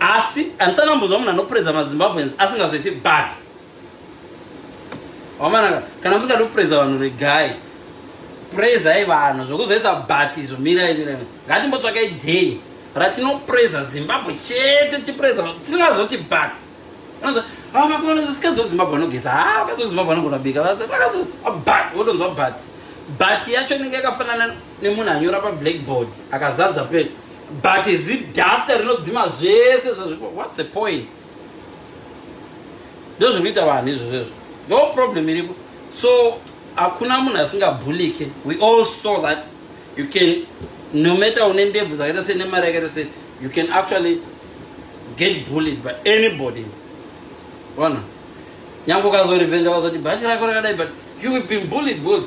asi andisati ndambonzwa munhu anopreza mazimbabweans asingazvisi but wamanaka kana musingadi kupreza vanhu regai prezai vanhu zvokuzoisa but izvo mirai mirai ngatimbotsvakai day ratinopreza zimbabwe chete tichipreza tisingazoti but sikadzoka zimbabwe anogeza ha kadzoka zimbabwe anogona bika but wotonzwa but but yacho inenge yakafanana nemunhu anyora pablackboard akazadza pen but ziduster rinodzima zvese zvazvipo whats the point ndozviri kuita vanhu izvozvezvo no problem iripo so hakuna munhu asingabhulike we all saw that you can no matter une ndebvu dzakaita sei nemari yakaita sei you can actually get bullied by anybody ona nyange ukazorivenja vazoti bhachi rako rakadai but you have been bullied because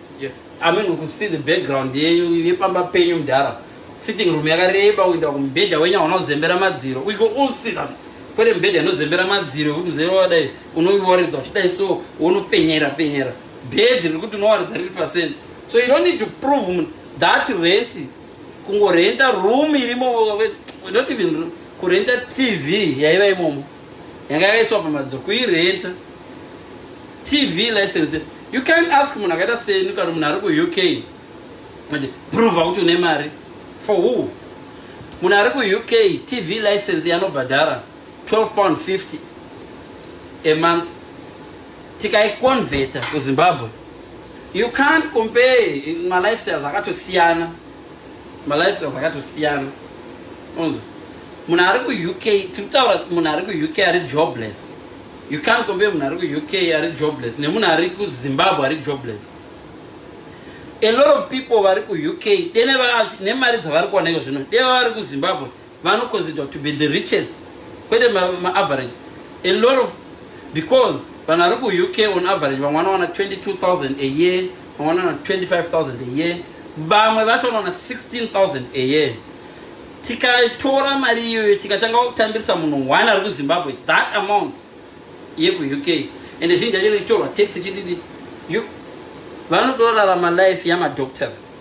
I mean we could see the background yepamba penyu mudhara sitting room yakareba kuenda kumubhedha wenyu hauna kuzembera madziro we could all see that kwete mubhedha inozembera madziro kuti muzere wadai unoiwaridza uchidai so unopfenyera pfenyera bhedhi riri kuti unowaridza riri pasent so you don't need to prove that rent kungorenta room irimo not even kurenta tv yaiva imomo yanga yakaiswa pamadziro kuirenta tv license you can ask munhu akaita seni kana munhu ari kuuk kuti prove kuti une mari for who munhu ari kuuk tv license yanobhadhara 12 pound 50 a month tikaiconveta kuzimbabwe you can't compare malifestyles akatosiyana malifestyles akatosiyana unzwa munhu ari kuuk tiri kutaura munhu ari kuuk ari jobless you can't compare munhu ari kuuk ari jobless nemunhu ari kuzimbabwe ari jobless a lot of people vari kuuk denemari dzavari kuoneka zvino deva vari kuzimbabwe vanoconsider to be the richest kwete maaverage ma a lot of because vanhu vari kuuk on average vamwe vanowana 22000 a year vamwe vanowana 25000 a year vamwe vacho vanowana 16000 a year tikatora mari iyoyo tikatanga kutambirisa munhu one ari kuzimbabwe that amount yekuuk ende zhinji yacho ichitorwa tax chididi vanodorarama life yamadoctors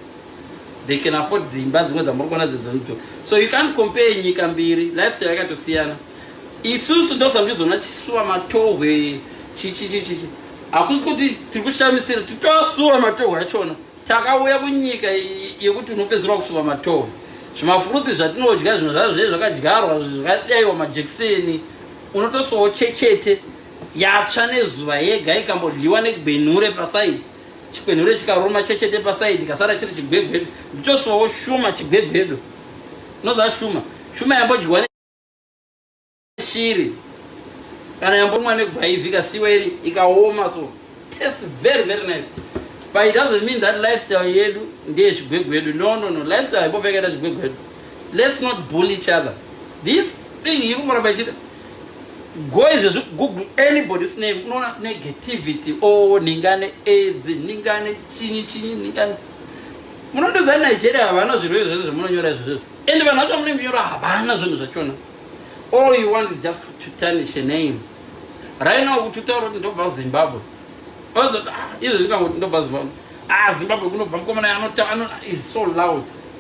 they can afford dzimba dzimwe dzamuri kuona dzedzinoto so you can't compare nyika mbiri lifestyle yakatosiyana isusu ndosandizona chisuwa matohwe chichichichichi hakusi kuti tiri kushamisira titoasuwa matohwe achona takauya kunyika yekuti unopedzerwa kusuwa matohwe zvimafurutsi zvatinodya zvinhu zvazve zvakadyarwa zvakadaiwa majekiseni unotosuwawo chechete yatsva nezuva yega ikambodyiwa nekbenure pasaidi Chikwenhure chikaruma chechete pasaidi kasara chiri chigwegwedu ndichoswawo shuma chigwegwedu noza shuma shuma yambodyiwa neshiri kana yambomwa negwaivi kasiwa iri ikaoma so taste very very nice but it doesn't mean that lifestyle yedu ndeye chigwegwedu no no no lifestyle imbopfekaita chigwegwedu let's not bully each other this thing ikumuramba ichida go izvezvi google anybody's name unoona negativity o oh, ningane aids ningane chinyi chinyi ningane munondoza nigeria havana zvirwere zvese zvamunonyora izvezvo and vanhu vacho vamunenge nyora havana zvinhu zvachona all you want is just to tarnish a name right now kuti utaura kuti ndobva zimbabwe ozoti ah, izvezvi kangoti ndobva zimbabwe ah zimbabwe kunobva mukomana anotaura is so loud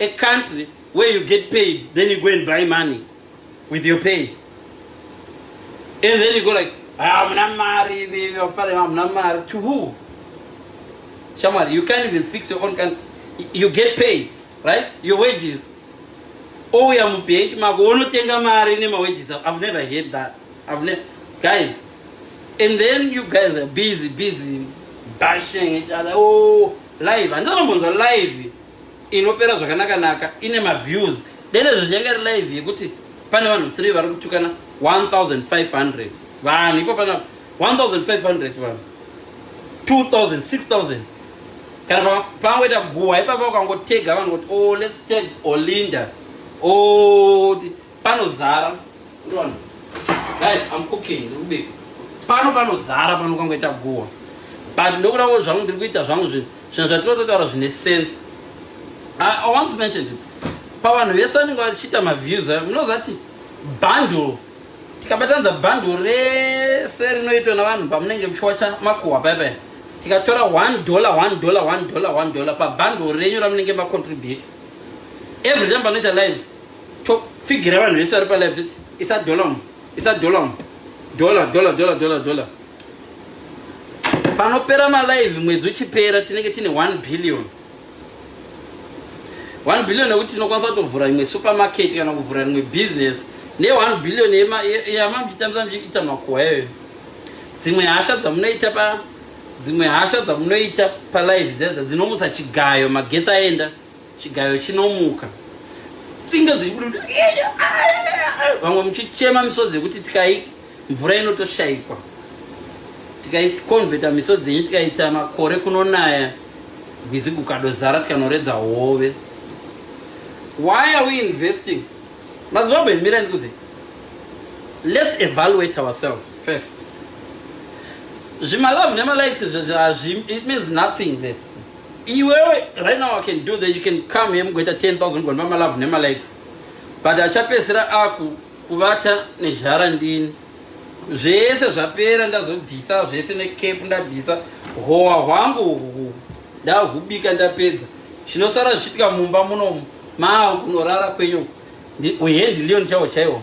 a country where you get paid then you go and buy money with your pay and then you go like hamuna ah, mari vafare hamuna ah, mari to who shamwari you can't even fix your own country you get paid right your wages ouya oh, mubhenki mako wonotenga mari nemawages i've never heard that i've never guys and then you guys are busy busy bashing each other oh live handinombonzwa live inopera zvakanaka naka ine maviews dene zvichange ri live yekuti pane vanhu 3 vari kutukana 1500 vanhu ipo pana 1500 vanhu 2000 6000 kana pangoita guhwa ipapa ukangotega vanhu kuti oh let's tag olinda oh panozara ndona guys i'm cooking ndikubika pano panozara pano kangoita guwa but ndokuda wo zvangu ndiri kuita zvangu zvinhu zvinhu zvatinototaura zvine sense i once mentioned it pavanhu vese vanenge vachiita maviews ayo munozati bundle tikabatanidza bundle rese rinoitwa navanhu pamunenge muchiwacha makuhwa paya paya tikatora one dollar one dollar one dollar one dollar pabundle renyu ramunenge macontribute every time panoita live topfigira vanhu vese vari palive titi isa dollar mu isa dollar mu dollar dollar dollar dollar dollar panopera malive mwedzi uchipera tinenge tine 1 billion 1 billion yekuti tinokwanisa kutovhura imwe supermarket kana kuvhura imwe business ne 1 billion yamamuchitambisa muchiita makuwa iyoyo dzimwe hasha dzamunoita pa dzimwe hasha dzamunoita palive dzedza dzinomutsa chigayo magetsi aenda chigayo chinomuka tsinga dziri kudu vamwe muchichema misodzi yekuti tikai mvura inotoshaikwa tikaikonvheta misodzi yenyu tikaita makore kunonaya gwizi gukadozara tikanoredza hove why are we investing mazimbabwe mira ndikuze let's evaluate ourselves first zvimalove nemalikes hazvi it means nothing left Iwewe right now I can do that you can come here mugoita 10000 mugona ma love nema likes but achapesera aku kuvata nezhara ndini zvese zvapera ndazobvisa zvese ne cap ndabvisa howa hwangu uhu ndahubika ndapedza zvinosara zvichitika mumba munomu maa kunorara kwenyu uhendi leon chaiwo chaiwo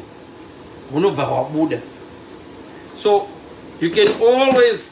hunobva hwabuda so you can always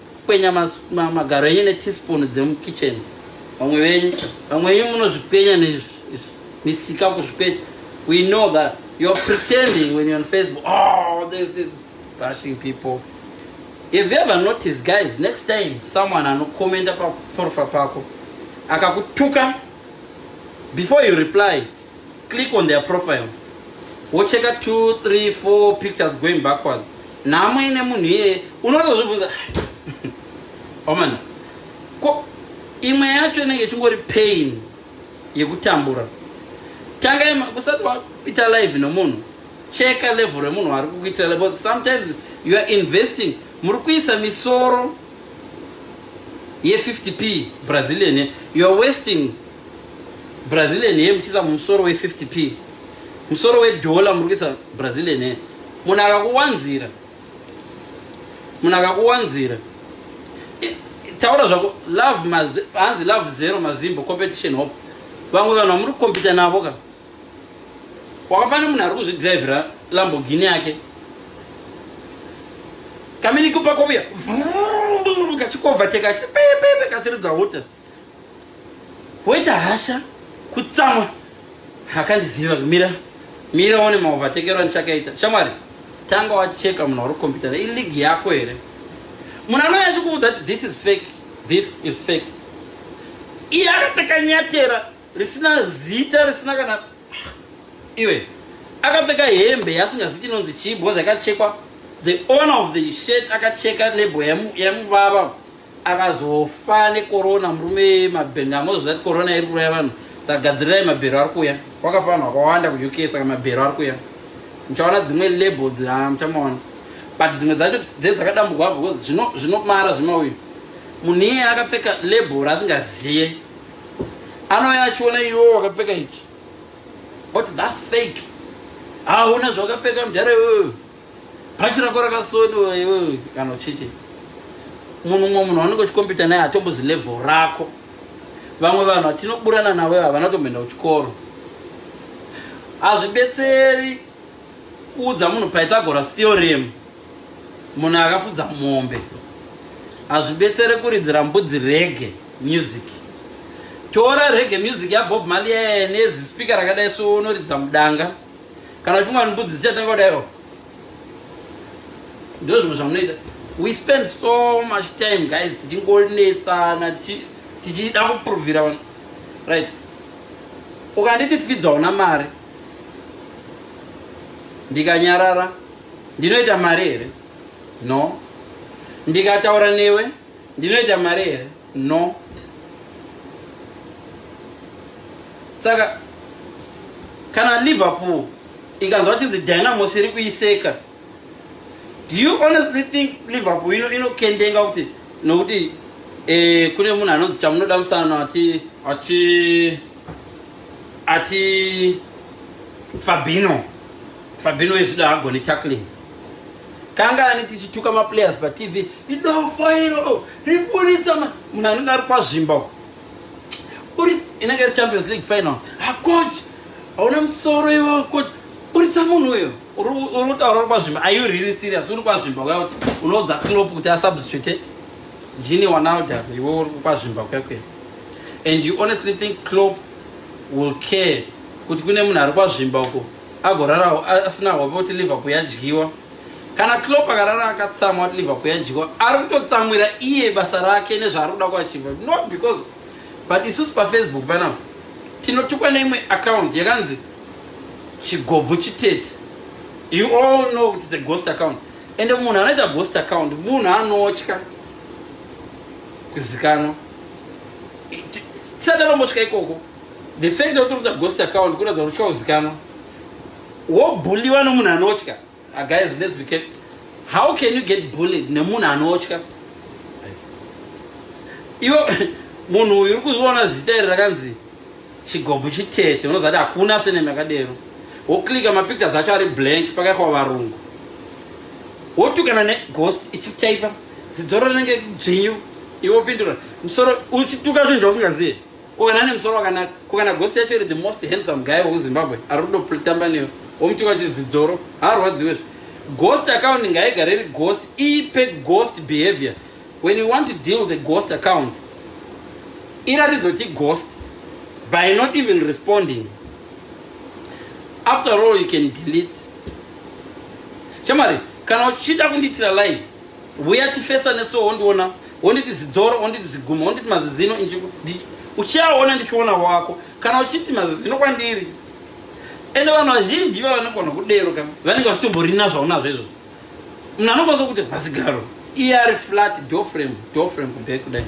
Kwenya magaro enyu neteaspoon dzemukitchen vamwe venyu vamwe venyu munozvikwenya nemisika kuzvikwenya we know that you're pretending when you're on facebook oh there's this bashing people if you ever notice guys next time someone anokomenda paprofile pako akakutuka before you reply click on their profile wocheka 2 3 4 pictures going backwards nhamo ine munhu iyeye unotozvibvunza omana oh, ko imwe yacho inenge ichingori pain yekutambura tangai usati wapita live nomunhu cheka level remunhu waari kukuitira level sometimes you are investing muri kuisa misoro ye 50 p brazilian you are wasting brazilian hair muchiisa musoro we 50 p musoro wedhola muri kuisa brazilian hair munhu akakuwanzira munhu akakuwanzira taura zvako love hanzi love zero mazimbo competition hope vamwe vanhu vamuri kukompita navo ka wakafanira munhu ari kuzvidrivhira lambogini yake kaminikupa kovuya kachikovha chekachipepepe kachiridza hota woita hasha kutsamwa akandiziva kumira mira one maovatekero andichakaita shamwari tanga wacheka munhu wari kukompitana iligi yako here munhu anouya achikuudza kuti this is fake this is fake iye akapfeka nyatera risina zita risina kana iwe akapfeka hembe yasingazi inonzi chii bhozi akachekwa the owner of the shirt akacheka nebo yamubaba yamu akazofa nekorona murume mabhero ndamoziva kuti korona iri kuraya vanhu saka gadzirirai mabhero ari kuya kwakafa vanhu vakawanda kuuk saka mabhero ari kuya muchaona dzimwe label dzaa muchamaona but dzimwe dzacho dze dzakadambugwa because zvinomara zvemauyu munhu iye akapfeka label raasingaziye anouya achiona iwo wakapfeka ichi oti thats fake hauna zvawakapfeka mudhara iwoyo Bhachi rako rakasoniwa iwewe kana ucheche. Munhu mumwe munhu wanenge uchikompita naye hatombozi level rako. Vamwe vanhu vatinoburana navo ivo havana kutomboenda kuchikoro. Hazvibetseri kuudza munhu Pythagoras theorem munhu akafudza mombe. Hazvibetsere kuridzira mbudzi rege music. Tora rege music yaBob Marley yaye nezi speaker rakadai so unoridza mudanga. kana chimwe vanhu mbudzi dzichatanga kudaiwo ndizvo zvimwe zvamunoita we spend so much time guys tichingonetsana tichida kuprovhira vanhu right ukanditi fidza una mari ndikanyarara ndinoita mari here no ndikataura newe Ndinoita mari here? No. Saka kana Liverpool ikanzwa kuti the Dynamos iri kuiseka do you honestly think Liverpool ino inokendenga kuti nokuti eh, kune munhu anonzi chamunoda musana ati ati ati Fabino Fabino is the agony tackling kangani tichituka maplayers patv idofo iro riburitsa munhu anenge ari kwazvimba uri inenge iri champions league final hacoach ah, hauna musoro iwo coach buritsa munhu uyo uri kutaura uri kwazvimba are you really serious uri kwazvimba kuya kuti unoudza clop kuti asubstitute jini wanalda iwe uri kwazvimba kuya kuya and you honestly think clop will care kuti kune munhu ari kwazvimba uko agorarawo asina hope kuti liverpool yadyiwa kana clop akarara akatsamwa kuti liverpool yadyiwa ari kutotsamwira iye basa rake nezvaari kuda kuachiva not because but isusu pafacebook panapa tinotukwa neimwe account yakanzi chigobvu chitete you all know kuti the ghost account ende munhu anoita ghost account munhu anotya kuzikanwa tisadalombosvika ikoko The fact that unoda ghost account kuratidza kuti uchauzikanwa. Wobuliwa nomunhu anotya. Ah, guys, let's be careful. How can you get bullied nemunhu anotya? Iwo munhu uyu uri kuzviona zita iri rakanzi chigobvu chitete unozati hakuna senemi yakadero woklika mapictures acho ari blank pakaikwa varungu wotukana neghost ichitaipa zidzoro rinenge dzvinyu iwo pindura musoro uchituka zvinhu zvausingazive Ko kana ane musoro wakanaka, ko kana ghost yacho iri the most handsome guy weku Zimbabwe ari kudo pritamba newe, womuti kwacho zidzoro, haarwadziwe zve. Ghost account ngaigare iri ghost, ipe ghost behavior. When you want to deal with a ghost account, iratidzo ti ghost by not even responding. After all you can delete. Shamwari, kana uchida kundiitira live, Huya tifesa neso wondiona wonditi zidzoro wonditi ziguma wonditi mazizino uchiaona ndichiona wako kana uchiti mazizino kwandiri ende vanhu vazhinji vavanogona kudero ka vanenge vachitomborina zvaunazvo izvo munhu anokwanisa kuti mazigaro iye ari flat dofrem dofrem kudai kudai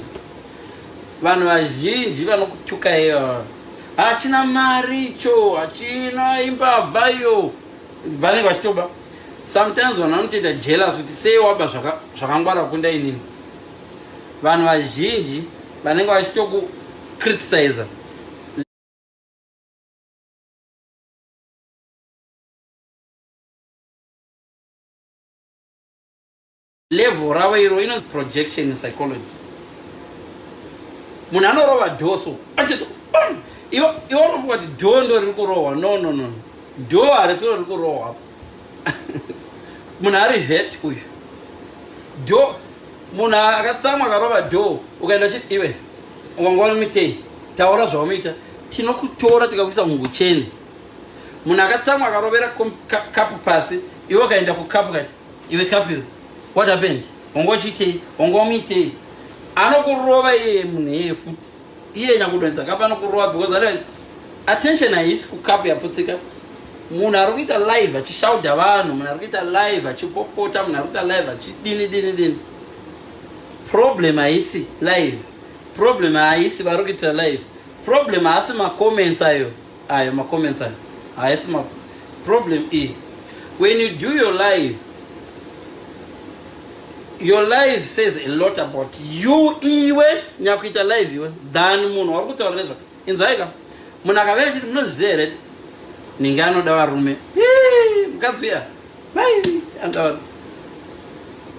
vanhu vazhinji vanokutyuka iye vava hachina mari cho hachina imbavha iyo vanenge vachitoba sometimes vanhu vanotoita jealous kuti sei waba zvakangwara zvaka kunda inini vanhu vazhinji vanenge vachitokukritisiza Level ravo iro inonzi projection in psychology. Munhu anorova door so achito bam. Iwo iwo unofunga kuti door ndo riri kurohwa. No no no. Door harisi riri kurohwa apa. Munhu ari hurt uyu. Door munhu akatsamwa akarova door ukaenda chiti iwe wanga wanomitei taura zvaunoita tinokutora tikakuisa mungucheni munhu akatsamwa akarovera kapu pasi iwe ukaenda kukapu kati iwe kapil what happened wanga uchiitei wanga wamuitei anokurova iyeye munhu iyeye futi iye nyakudonza kapi anokurova because are attention haisi kukapu yaputsika munhu ari kuita live achishauda vanhu munhu ari kuita live achipopota munhu ari kuita live achidini dini dini problem haisi live problem haisi vari kuitira live problem haasi macomments ayo Ayo ma comments ayo haasi ma problem iyi. When you do your live your live says a lot about you iwe nyakuita live iwe than munhu wari kutaura nezvake inzwaika munhu akavea chiti munozviziva here ti ninge anoda varume mukadzi uya mai anoda varume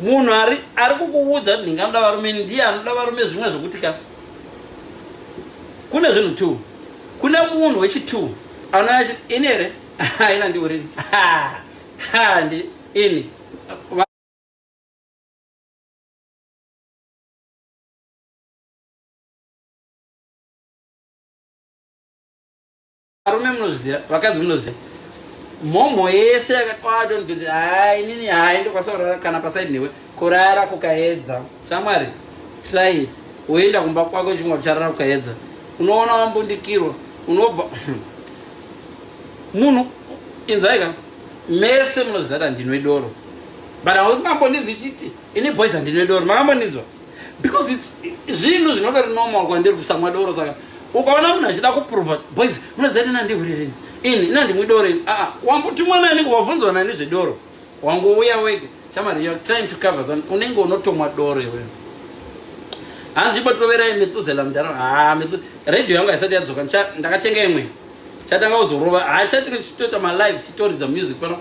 munhu ari kukuudza kuti ninge anoda varume ndiye anoda varume zvimwe zvekuti ka kune zvinhu two kune munhu wechi two anouya chiti ini here haina ndiurini handi ini varume munozviziva vakadzi munozviziva mhomho yese yakakwaadonbezi hai inini hai ndokwanisa kurara kana pasaidi newe kurara kukaedza shamwari try it woenda kumba kwako chimwa kucharara kukaedza unoona wambundikirwa unobva munhu inzwaika mese munozviziva kuti handinwe doro but hauti mambondinzwa ichiti ini boys handinwe doro makambondinzwa because zvinhu zvinodori normal kwandiri kusamwa doro saka ukaona munhu achida kuprova boys munoziva kuti nandihuri rini ini inandimwi doro ini aa wambuti mwana anenge wavhunzwa nani zvedoro wangouya wega shamari you're trying to cover something unenge unotomwa doro iwewe hanzi ibotoverai metsuzela mudhara haa metsu radio yangu haisati yadzoka ndakatenga imwe chatanga kuzorova haa chatinge chichitoita malive chitoridza music pano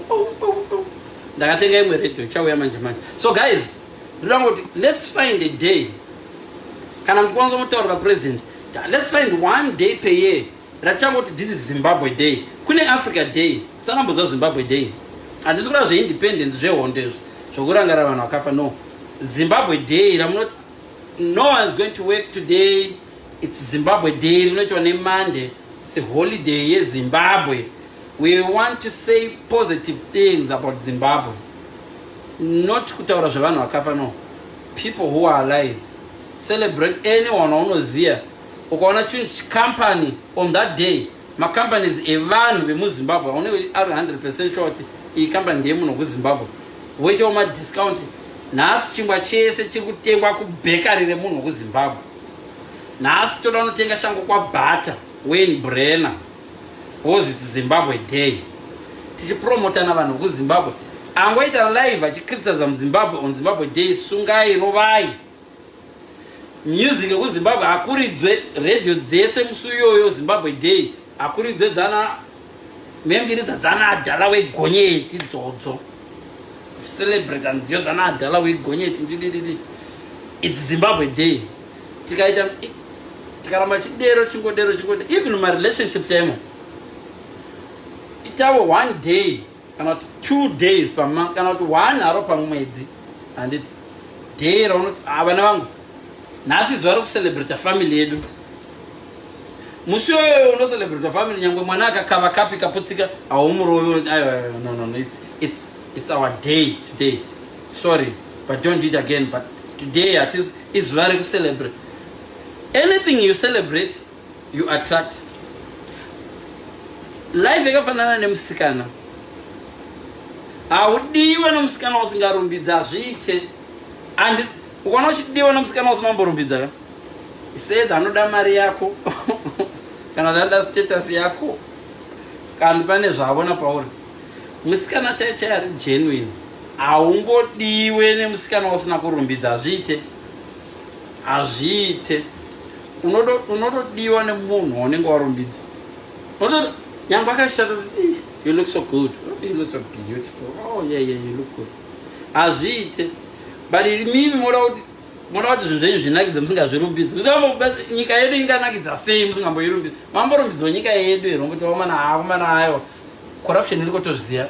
ndakatenga imwe radio chauya manje manje so guys ndoda kuti let's find a day kana muchikwanisa kutaurira president let's find one day per year ratichangoti this is zimbabwe day kune africa day sanambodzwa zimbabwe day handisi kuda zveindependence zvehondo izvo zvokurangarira vanhu vakafa no zimbabwe day ramunoti no one is going to work today its zimbabwe day rinoitwa nemonday its holiday yezimbabwe we want to say positive things about zimbabwe not kutaura zvevanhu vakafa no People who are alive celebrate anyone waunoziva ukaona chinhu chicompany on that day macompanies evanhu vemuzimbabwe aunenge ari 100 percent sure kuti iyi company ndeyemunhu wekuzimbabwe woitawo madiscount nhasi chingwa chese chiri kutengwa kubhekari remunhu wekuzimbabwe nhasi toda unotenga shango kwabhata wayne brenner Because it's Zimbabwe day. Tichipromotana vanhu kuZimbabwe. Angoita live achicriticize muZimbabwe on Zimbabwe day sungai rovai. Music yekuZimbabwe akuridzwe radio dzese musi uyoyo Zimbabwe day akuridzwe dzana membiri dzadzana adhala wegonyeti dzodzo. Celebrate and dzana adhala wegonyeti ndidididi. It's Zimbabwe day. tikaita tikaramba chidero chingodero chingodero even mumarelationships emo itawo one day kana kuti two days pamonth kana kuti one haro pamwedzi handiti day raunoti ah, vana vangu nhasi zuva rekucelebrata family yedu musi yoyoyo unocelebrata family nyangwe mwana akakava kapi kaputsika haumurovi no, no, no, it's, it's, it's our day today sorry but don't do it again but today at least izuva rekucelebrate anything you celebrate you attract life yakafanana nemusikana haudiwe nomusikana usingarumbidza hazviite and ukaona uchidiwa nomusikana usimamborumbidza ka said anoda mari yako kana anoda status yako kana pane zvaavona pauri Musikana chai chai ari genuine haungodiwe nemusikana usina kurumbidza hazviite hazviite unotodiwa nemunhu waunenge warumbidza unotoda nyangwe akashata you look so good oh, you look so beautiful oh yeah yeah you look good hazviite but mimi moda kuti moda kuti zvinhu zvenyu zvinakidze musingazvirumbidzi nyika yedu inganakidza sei musingamboirumbidzi mamborumbidzwa nyika yedu here ngotiwamana akomana ayo Corruption iriko tozviziva.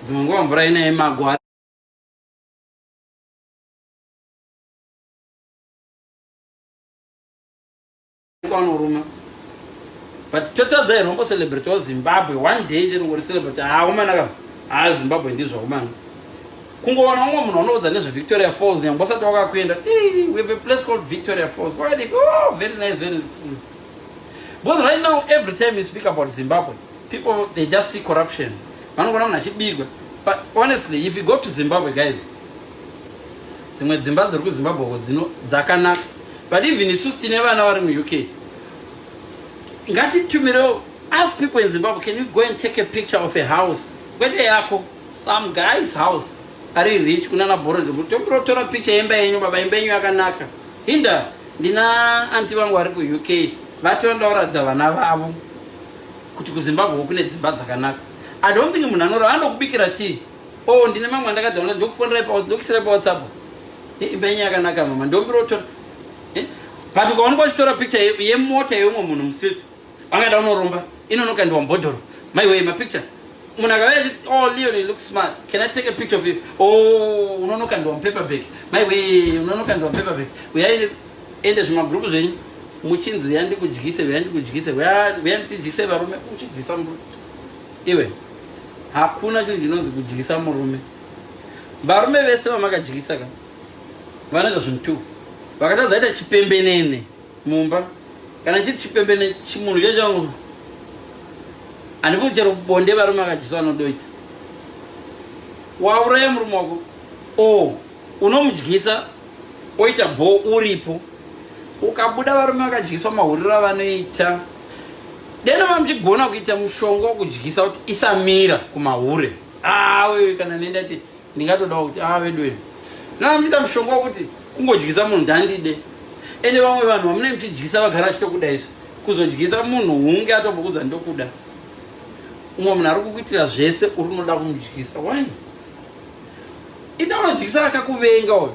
Dzimwe nguva mvura ine magwa. Kwanoruma. But total the rombo celebrate of Zimbabwe one day chero ngori celebrate ah umana ka. Ah Zimbabwe ndizvo umana. Kungoona umwe munhu anoudza nezve Victoria Falls nyangwe usati wakakuenda. Eh, we have a place called Victoria Falls. Why? Oh, very nice, very nice. because right now every time you speak about zimbabwe people they just see corruption vanogona munhu achibirwa but honestly if you go to zimbabwe guys dzimwe dzimba dziri kuzimbabwe ko dzakanaka but even isu tine vana vari muuk ngatitumirewo ask people in zimbabwe can you go and take a picture of a house kwete yako some guys house ari rich kunana borod tombirotora picture yemba yenyu baba imba yenyu yakanaka hinda Ndina anti vangu vari kuUK vati vanoda kuratidza vana vavo kuti kuZimbabwe kune dzimba dzakanaka. I don't think munhu anorava anoda kubikira tea. Oh, ndine mamwe andakadza kuti ndokufonerai pa ndokisira pa WhatsApp. Eh, imba yenyu yakanaka mama. Ndombiro tora. Eh? But ukaonekwa uchitora picture yemota ye yemumwe munhu mustreet. Angada unoromba inono kaendiwa mbodhoro my way ma picture munhu akauya achiti oh leon you look smart can i take a picture of you oh unono kaendiwa mupaper bag my way unono kaendiwa mupaper bag uyai ende zvimagrupu zvenyu muchinzi uya ndikudyise uya ndikudyise uya ndityise varume uchidyisa murume iwe hakuna chinhu chinonzi kudyisa murume varume vese vamakadyisa ka vanoita zvinhu two vakatadza ita chipembenene mumba kana chiri chipembene chimunhu chacho handifuni chero bonde varume akajesu vanodoita wauraya murume wako o unomudyisa oita bho uripo ukabuda varume vakadyiswa mahuriro avanoita deno mamuchigona kuita mushonga wokudyisa kuti isamira kumahure awe kana nendati ndingatodawo kuti aa ah, veduwe nana muchiita mushonga wokuti kungodyisa munhu ndandide ende vamwe vanhu vamune muchidyisa vagara vachitokuda izvi kuzodyisa munhu hunge atombokudza ndokuda umwe munhu ari kukuitira zvese uri unoda kumudyisa wani ita unodyisa akakuvenga uyo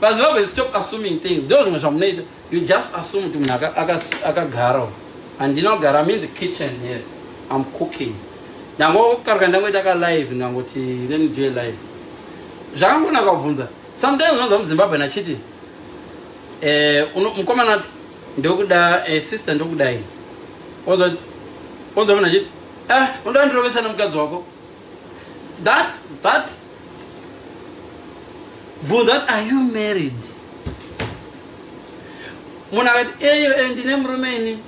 vazimbabwe stop assuming things ndo zvimwe zvamunoita you just assume kuti munhu akagara handinogara im in the kitchen here im cooking ndangokaruka ndangoita ka live ndangoti let me do a live zvakangonaka kubvunza sometimes unonzwa muzimbabwe nachiti eh, mukomana ati ndokuda eh, sister ndokudai onzwa munhu achiti ah unoda ndirovesa nemukadzi wako that that bvunza that are you married munhu akati eyo eyo ndine murume ini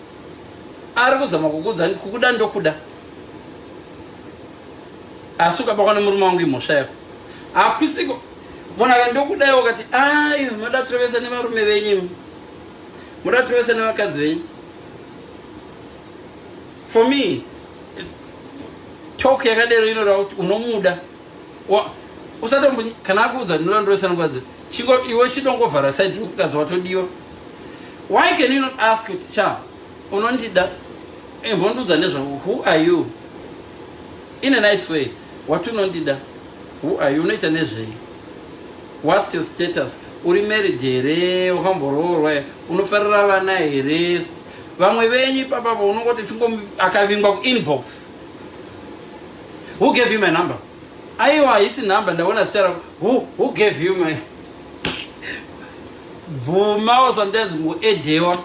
ari kuzama kukuudza kukuda ndokuda asi ukabakwa nemurume wangu imhosva yako hakusiko munhu akati ndokudaiwo kati ai moda tirovesa nevarume venyu moda tirovesa nevakadzi venyu For me talk yakadero inoda kuti unomuda usatombo kana akuudza ndinoda ndosanukadzi chingo iwe chidongovhara side rokukadzi watodiwa why can you not ask kuti cha unondida imbondiudza eh, nezvako who are you in a nice way wati unondida who are you unoita nezvei whats your status uri married here wakamboroorwa unofarira vana here Vamwe venyu ipapa vo unongoti chingom akavingwa ku inbox. Who gave you my number? Aiwa haisi number ndaona zita rako. Who who gave you my Bvuma or sometimes muedewa.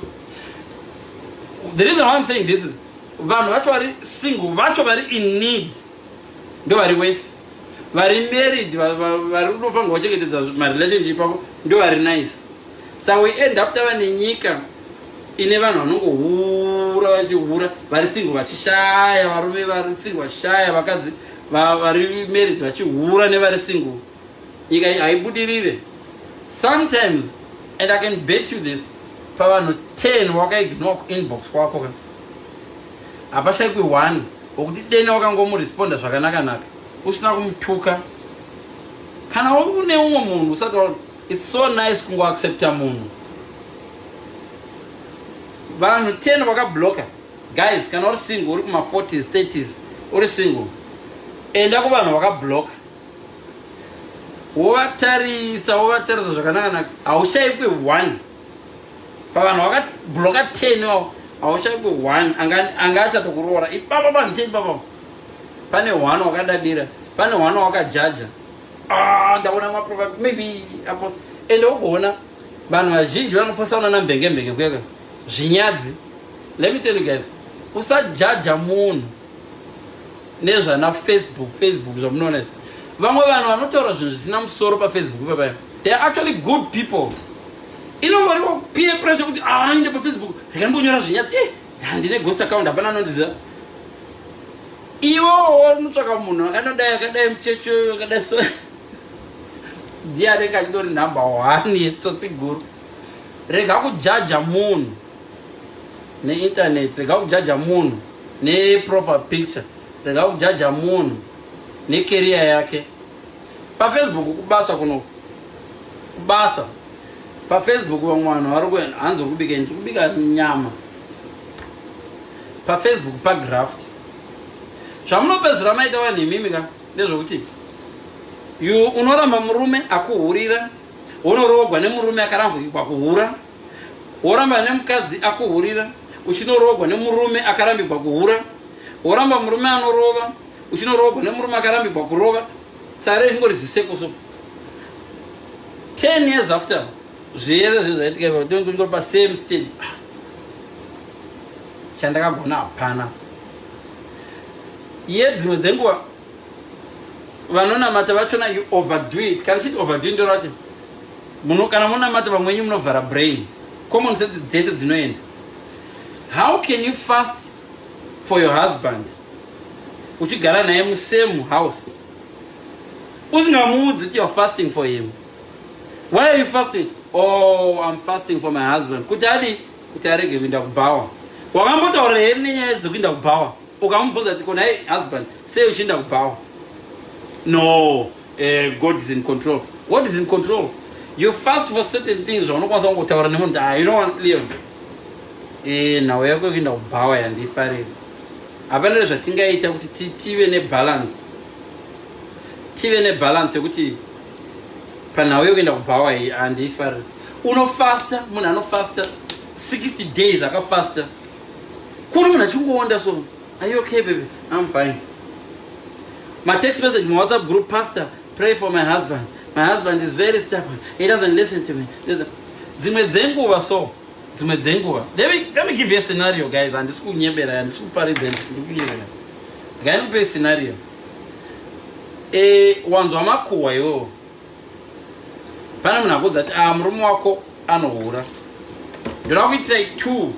The reason why I'm saying this is vanhu vacho vari single vacho vari in need ndo vari wese vari married vari unofanirwa kuchengetedza marelationship ako ndo vari nice sa we end up tava nenyika ine vanhu vanongohura vachihura vari single vachishaya varume vari single vachishaya vakadzi vari married vachihura nevari single nyika iyi haibudirire sometimes and i can bet you this pavanhu 10 wakaignore kuinbox kwako ka hapashaikwi one wekuti dena wakangomuresponder zvakanaka naka usina kumutuka kana une umwe munhu usati wa its so nice kungoaccepta munhu vanhu 10 vakabloka guys kana uri single uri kuma 40s 30s uri single enda kuvanhu vakabloka wovatarisa wovatarisa zvakanaka naka haushaikwi one pavanhu vakabloka 10 vavo hauchaipo one anga achatokuroora ipapa panhu te ipapa pane one wakadadira pane one wakajaja ah, ndaona maprofa maybe apo ende ugoona vanhu vazhinji vanoposaona nambengembenge kuyaka zvinyadzi let me tell you guys usajaja munhu nezvana facebook facebook zvamunoona izvi vamwe vanhu vanotaura zvinhu zvisina musoro pafacebook ipapaya they are actually good people inongoriwo peer pressure kuti ainde ah, pafacebook ndikambonyora zvinyadzi eh, handine ghost account hapana anondiziva iwowo unotsvaka munhu akanodai akadai muchecho akadai so ndiye anenge achidori number one yetsotsi guru rega kujaja munhu ne internet rega kujaja munhu ne profile picture rega kujaja munhu ne career yake pa facebook kubasa kuno kubasa pa facebook vamwe vanhu vari kuenda hanzi kubika ndi kubika nyama pa facebook pa graft zvamunopedzera maita vanhu imimi ka ndezvekuti you unoramba murume akuhurira wonorogwa nemurume akarambwa kuhura woramba nemukadzi akuhurira uchinoroogwa nemurume akarambigwa kuhura woramba murume anorova uchinoroogwa nemurume akarambigwa kurova sare ingori ziseko so 10 years after zviyere zve zvaitika ipa tonge tingori pasame stage ah. chandakagona hapana yedzimwe dzenguva vanonamata vachona you overdo it kana chiti overdo ndoro vati kana monamata vamwe wenyu munovhara brain common sense dzese dzinoenda how can you fast for your husband uchigara naye musame house usingamuudzi kuti youare fasting for him why are you fasting oh i'm fasting for my husband kuti adi kuti arege kuinda kubhawa wakambotaurira heri nenyaya dzekuinda kubhawa ukamubvunza kuti kona husband sei uchienda kubhawa no eh, god is in control what is in control you fast for certain things zvaunokwanisa kungotaura nemunhu ah, you know leon eh, nhau yako yekuenda kubhawa yandifarira hapana nezvatingaita kuti tive nebalance tive nebalance yekuti panhau yekuenda kubhawa iyi andifarira unofasta munhu anofasta 60 days akafasta Kuona munhu achingoonda so. Are you okay baby? I'm fine. My text message, my WhatsApp group, pastor, pray for my husband. My husband is very stubborn. He doesn't listen to me. Dzimwe dzenguva so. Dzimwe dzenguva. Let me, let me give you a scenario guys. Handisi kunyebera, handisi kuparidza, handisi kunyebera. Ngaikupe scenario. Eh, wanzwa makuhwa iwowo. pane munhu akuudza kuti ah murume wako anohura ndoda kuitirai two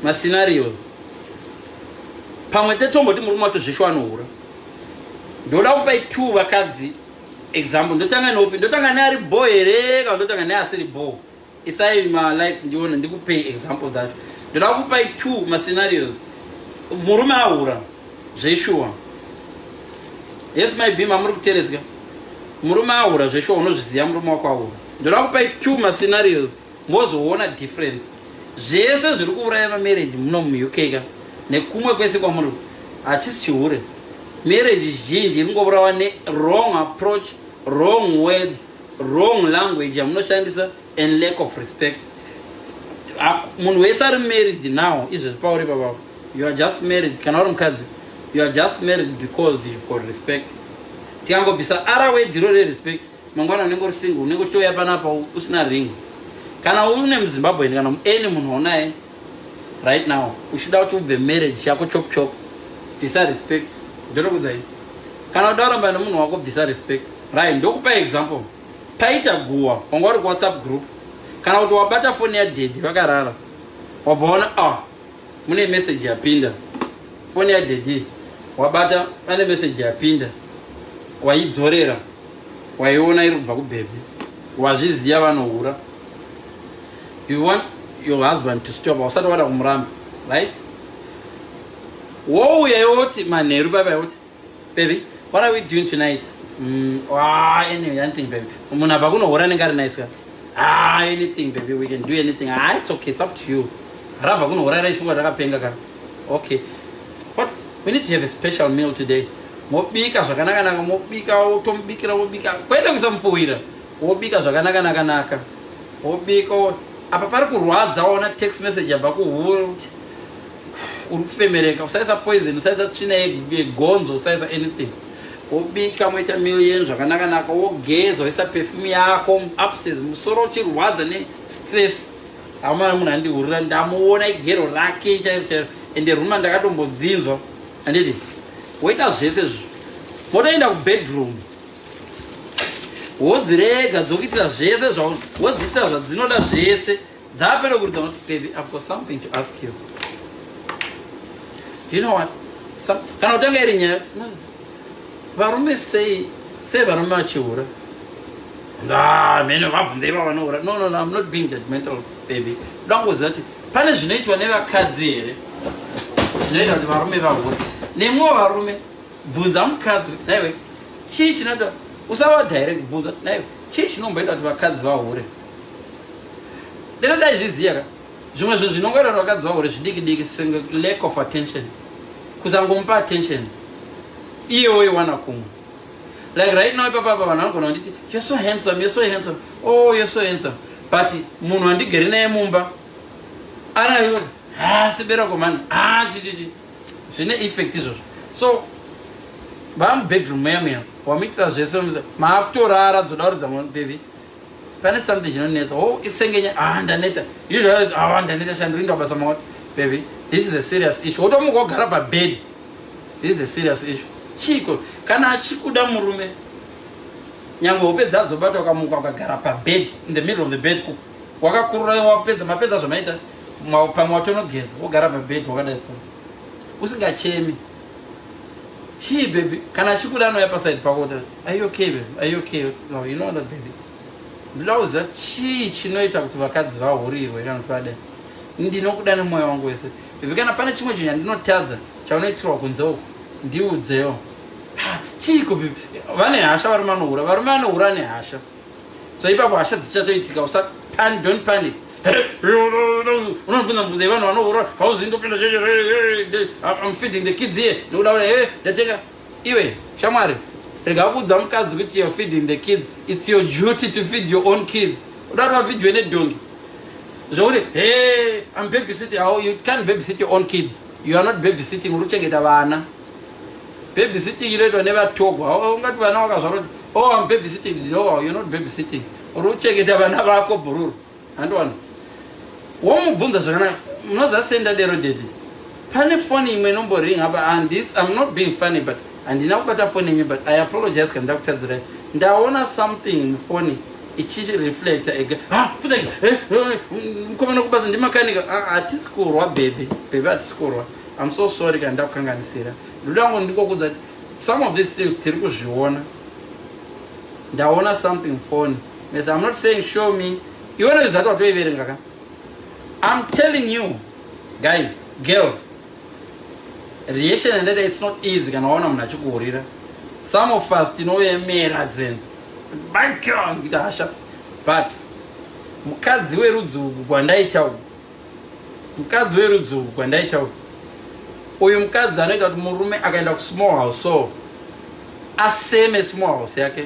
mascenarios pamwe tetomboti murume wacho zvesho anohura ndoda kupai two vakadzi example ndotanga neupi ndotanga neari bho here kana ndotanga neasiri bho isai ma likes ndione ndikupei example dzacho ndoda kupai two ma scenarios murume ahura zveshuwa yes my beam amuri kuterezga murume ahura zveshuwa unozviziva murume wako ahura ndoda kupai two ma scenarios mozoona difference zvese zviri kuuraya mamarriage muno muuk ka nekumwe kwese kwamuri hachisi chihure marriage zhinji iri ngoburawa newrong approach wrong words wrong language yamunoshandisa and lack of respect munhu wese ari married now izvezvi pauri papa you are just married kana uri mukadzi you are just married because you've got respect tikangobvisa ara wedhiro rerespect mangwana unenge uri single unenge uchitouya panapa usina ring kana une muzimbabwe kana any munhu waunaye right now uchida kuti ubve marriage chako chop chop bvisa respect ndinokudzai kana uda kuramba nemunhu wako bvisa respect right ndokupa example paita guwa wanga uri kuwhatsapp group kana kuti wabata foni yadhedhi vakarara wabva waona ah mune meseji yapinda foni yadhedhi wabata pane meseji yapinda waidzorera waiona iri kubva kubhebhi wazviziva vanohura you want your husband to stop hausati wada kumuramba right wouya yoti manheru baba yoti baby what are we doing tonight mm, ah, anyway, anything baby munhu abva kunohora anenge ari nice ka ah, anything baby we can do anything ah, it's okay it's up to you rabva kunohora raishuka rakapenga ka okay what we need to have a special meal today mobika zvakanakanaka mobika wotomubikira wobika kwete kuisa mupfuwira wobika zvakanaka naka naka wobika apa pari kurwadza waona text message yabva kuhuro kuti uri kufemereka usaisa poison usaisa tsvina yegonzo usaisa anything wobika moita million zvakanaka naka wogeza woisa perfume yako upses musoro uchirwadza nestress amana munhu andihurira ndamuona igero rake chairo chairo ende ruma ndakatombodzinzwa anditi woita zvese zvi motoenda kubedroom wodzirega dzokuitira zvese zvaun wodziitira zvadzinoda zvese dzapere kuridza unoti baby i've got something to ask you you know what Some, kana kutanga iri nyaya varume sei sei varume vachihura ah, mheno vabvunzei vavanohura no no no i'm not being judgmental baby dangoziva kuti pane zvinoitwa nevakadzi here zvinoita kuti varume vahura nemwewo varume bvunza mukadzi kuti naiwe chii chinoda usavada here kubvunza kuti naiwe chii chinomboita kuti vakadzi vahure deno ndaizviziva ka zvimwe zvinhu zvinongoita kuti vakadzi vahure zvidiki diki senge lack of attention kusangomupa attention iye woiwana kumwe like right now ipapa apa vanhu vanogona kunditi you're so handsome you're so handsome oh you're so handsome but munhu andigere naye mumba anaoti ha ah, siberako mani ha ah, chichichi zvine effect izvozvo so baa mubedroom meya meya wamuitira zvese maakutorara dzoda kuridza mwana bebi pane something chinonetsa o isengenya a ah, ndaneta usually a ah, ndaneta shandirinda basa maoti bebi this is a serious issue wotomuka wogara pabed this is a serious issue chiiko kana achikuda murume nyange hope dzadzo bata ukamuka ukagara pabed in the middle of the bed wakakurura wapedza mapedza zvamaita pamwe watonogeza wogara pabed wakadai so usingachemi chii baby kana achikuda anouya paside pako kuti are okay baby are okay no you know that baby ndinoda kuziva chii chinoita kuti vakadzi vahurirwe kana kuti vadai ndinokuda nemwoyo wangu wese baby kana pane chimwe chinhu chandinotadza chaunoitirwa kunze uku ndiudzewo chiiko baby vane hasha varume anohura varume anohura ane hasha so ipapo hasha dzichatoitika usa pan don't panic unobvunza mubvunza yevanhu vanohura hauzingopinda cheche i'm feeding the kids here nokuda ura e ndatenga iwe shamwari rega kuudza mukadzi kuti you're feeding the kids it's your duty to feed your own kids uda kuti vafidwe nedhongi zvokuti he i'm babysitting how you can't babysit your own kids you are not babysitting uri kuchengeta vana Babysitting inoitwa nevatogwa. Oh, ungati vana wakazvaroti, oh, I'm babysitting. No, you're not babysitting. Uri kuchengeta vana vako bhururu. Handiwana. Womubvunza zvakanaka. Munoziva sei ndadero daddy? Pane foni imwe inomboring apa and this I'm not being funny but handina kubata foni yenyu but I apologize kana ndakutadzirai. Ndaona something mufoni ichireflecta ega. Ha, fudzai. Eh, eh, eh, mkomana kubasa ndimakanika. Ah, hatisi kurwa baby. Baby hatisi kurwa. I'm so sorry kana ndakukanganisira ndoda kungo ndikokudza kuti some of these things tiri kuzviona ndaona something fone mes I'm not saying show me iwona izvizati watoiverenga ka I'm telling you guys girls reaction yandaita it's not easy kana waona munhu achikuhurira some of us tinoyemera dzenzi background kuita hasha but mukadzi werudzi uku kwandaita uku Mukadzi werudzi urwu gwandaitaura uyu mukadzi anoita kuti murume akaenda kusmall house so aseme small house yake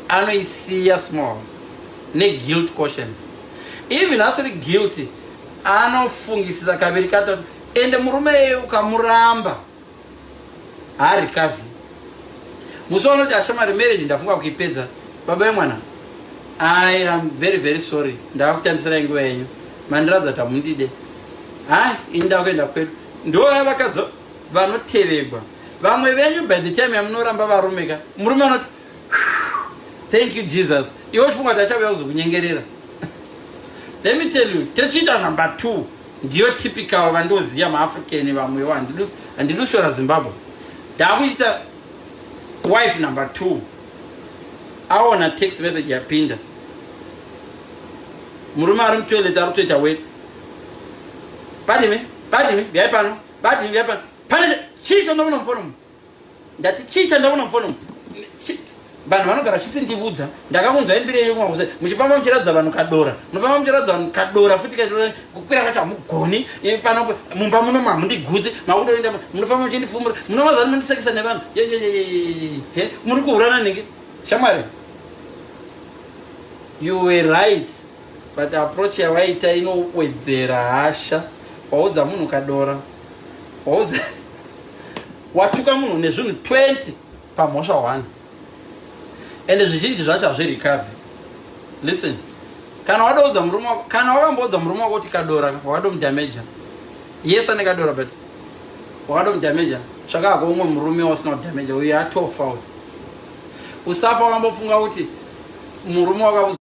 anoisiya small house neguilt cautions even asiri guilty anofungisisa kaviri katatu ende murume eye ukamuramba haarikavi musi waunoti ashamari marriage ndafunga kuipedza baba vemwana i am very very sorry ndava kutambisirai nguva yenyu mandiradza kuti hamundide hai ini ndava kuenda kwedu ndoya vakadzi vanotevegwa vamwe venyu by the time yamunoramba varume ka murume anoti thank you jesus iwe uchifunga kuti achauya kuzokunyengerera let me tell you techiita number two Ndiyo typical vandoziya ma African vamwewo handidu handidu shora Zimbabwe. Ndakuita wife number 2. Aona text message yapinda. Murume ari mutoilet ari kutoita wet. Badimi, badimi, byai pano. Badimi, byai pano. Pane chii chondomunomufonomu? ndati chii chandaona mufoni umu vanhu vanogara vachisindivudza ndakakunzwa imbiri yenyu kumakuze muchifamba muchiratidza vanhu kadora munofamba muchiratidza vanhu kadora futi kaita kukwira vacho hamugoni pano mumba muno mamundigudzi makutoenda munofamba muchindifumura munomazani mundisekisa nevanhu he muri kuhurana nhingi shamwari you were right but approach yawaita inowedzera hasha waudza munhu kadora waudza watuka munhu nezvinhu 20 pamhosva 1 ende zvizhinji zvacho hazvirikave listen kana wadoudza murume wako kana wakamboudza murume wako kuti kadora wakadomudameja yes ane kadora but wakadomudameja tsvakako umwe murume wasina kudameja uye atofa uyu usafa wakambofunga kuti murume wakaudza